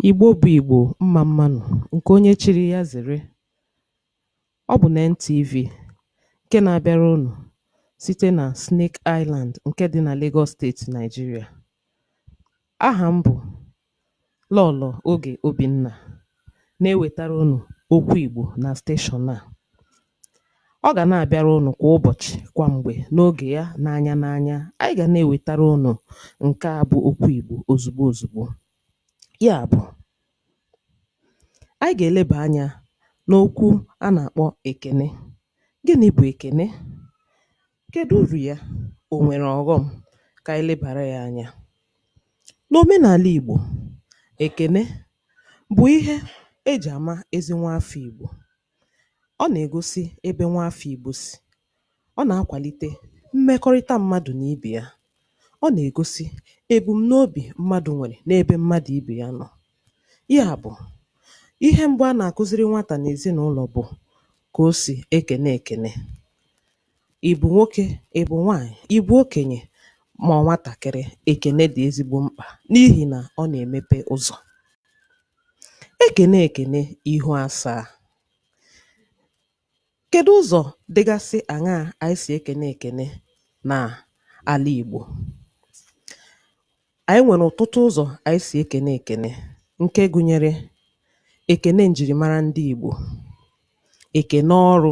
Igbo bụ Igbo, mma mmanụ, nke onye chiri ya zere. Ọ bụ na NTV nke na-abịara unu site na Snake Island nke dị na Lagos steeti Nigeria. Aha m bụ Lọlọ Oge Obinna na-ewetara unu okwu Igbo na steshọn a. Ọ ga na-abịara unu kwa ụbọchị, kwa mgbe, n'oge ya, n'anya n'anya. Anyị ga na-ewetara unu nke a bụ okwu Igbo ozugbo ozugbo. Ya bụ, anyị ga-eleba anya n'okwu a na-akpọ ekene. Gịnị bụ ekene? Kedu uru ya? O nwere ọghọm? Ka anyị lebara ya anya. N'omenala Igbo, ekene bụ ihe e ji ama ezi nwa afọ Igbo. Ọ na-egosi ebe nwa afọ Igbo si. Ọ na-akwalite mmekọrịta mmadụ na ibe ya. Ọ na-egosi ebumnobi mmadụ nwere n'ebe mmadụ ibe ya nọ. Ya bụ, ihe mbụ a na-akụziri nwata n'ezinụlọ bụ ka o si ekene ekene. Ị bụ nwoke, ị bụ nwaanyị, ị bụ okenye ma ọ nwatakịrị, ekene dị ezigbo mkpa n'ihi na ọ na-emepe ụzọ. E kenee ekene, ihu asaa. Kedu ụzọ dịgasị aṅaa anyị si ekene ekene n'ala Igbo? Anyị nwere ọtụtụ ụzọ anyị si ekene ekene nke gụnyere ekene njirimara ndị Igbo, ekene ọrụ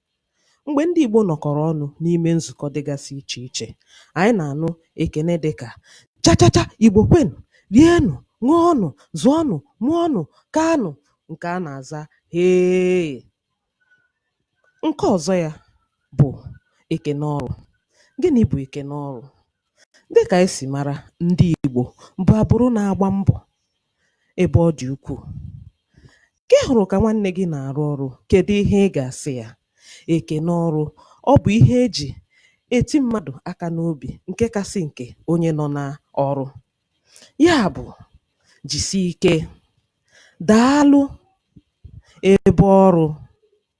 Mgbe ndị Igbo nọkọrọ ọnụ n'ime nzukọ dịgasị iche iche, anyị na-anụ ekene dị ka chachacha Igbo kwenụ, rienụ, ṅụọnụ, zụọnụ, mụọnụ, kaanụ nke a na-aza hee. Nke ọzọ ya bụ ekene ọrụ. Gịnị bụ ekene ọrụ? Dịka anyị si mara, ndị Igbo bụ agbụrụ na-agba mbọ ebe ọ dị ukwuu. Ka ị hụrụ ka nwanne gị na-arụ ọrụ, kedu ihe ị ga-asị ya? Ekene ọrụ, ọ bụ ihe e ji eti mmadụ aka n'obi nke kasị nke onye nọ na ọrụ. Ya bụ, jisi ike, daalụ, ebe ọrụ.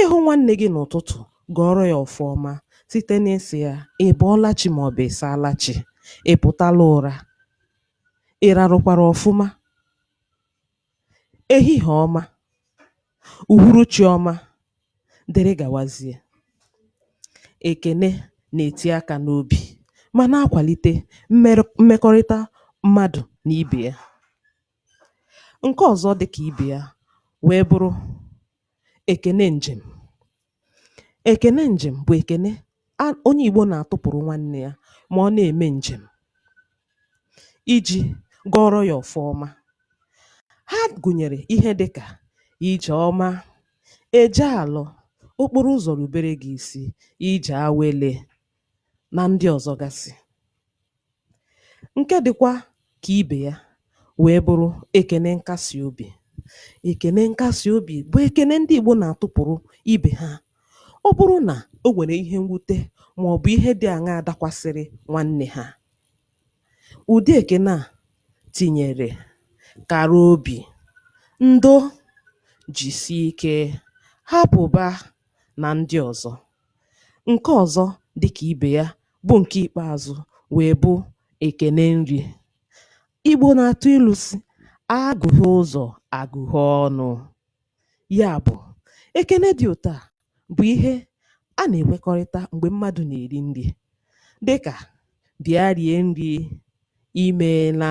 Ị hụ nwanne gị n'ụtụtụ, gọọrọ ya ọfọ ọma site n'ịsị ya ị bọọla chi ma ọ bụ ị saala chi, ị pụtala ụra, ị rarụkwara ọfụma, ehihie ọma, uhuruchi ọma, dere gawazie. Ekene na-eti aka n'obi ma na-akwalite mmerọ mmekọrịta mmadụ na ibe ya. Nke ọzọ dị ka ibe ya wee bụrụ Ekene njem. Ekene njem bụ ekene onye Igbo na-atụpụrụ nwanne ya ma ọ na-eme njem iji gọọrọ ya ọfọ ọma. Ha gụnyere ihe dị ka ije ọma, eje alọ, okporo ụzọ rubere gị isi, ije awele. na ndị ọzọ gasị. Nke dịkwa ka ibe ya wee bụrụ ekene nkasi obi. Ekene nkasi obi bụ ekene ndị Igbo na-atụpụrụ ibe ha. Ọ bụrụ na o nwere ihe mwute ma ọ bụ ihe dị aṅaa dakwasịrị nwanne ha, ụdị ekene a tinyere kara obi, ndo, jisie ike, hapụba na ndị ọzọ. Nke ọzọ dị ka ibe ya bụ nke ikpeazụ wee bụ ekene nri. Igbo na-atụ ilu sị, a gụhee ụzọ, a gụhee ọnụ. Ya bụ, ekene dị otu a bụ ihe a na-ekwekọrịta mgbe mmadụ na-eri nri dị ka, bịa rie nri, i meela.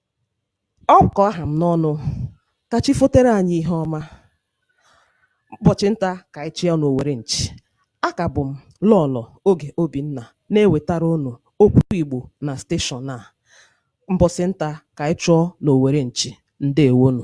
Ọ kọ aha m n'ọnụ, ka chi fotere anyị ihe ọma. Ụbọchị nta ka anyị chụa n'owere nchi. A ka bụ m Lọọlọ Oge Obinna na-ewetara unu okwu Igbo na steshọn a. Mbọsị nta ka anyị chụọ n'owere nchi. Ndewonụ.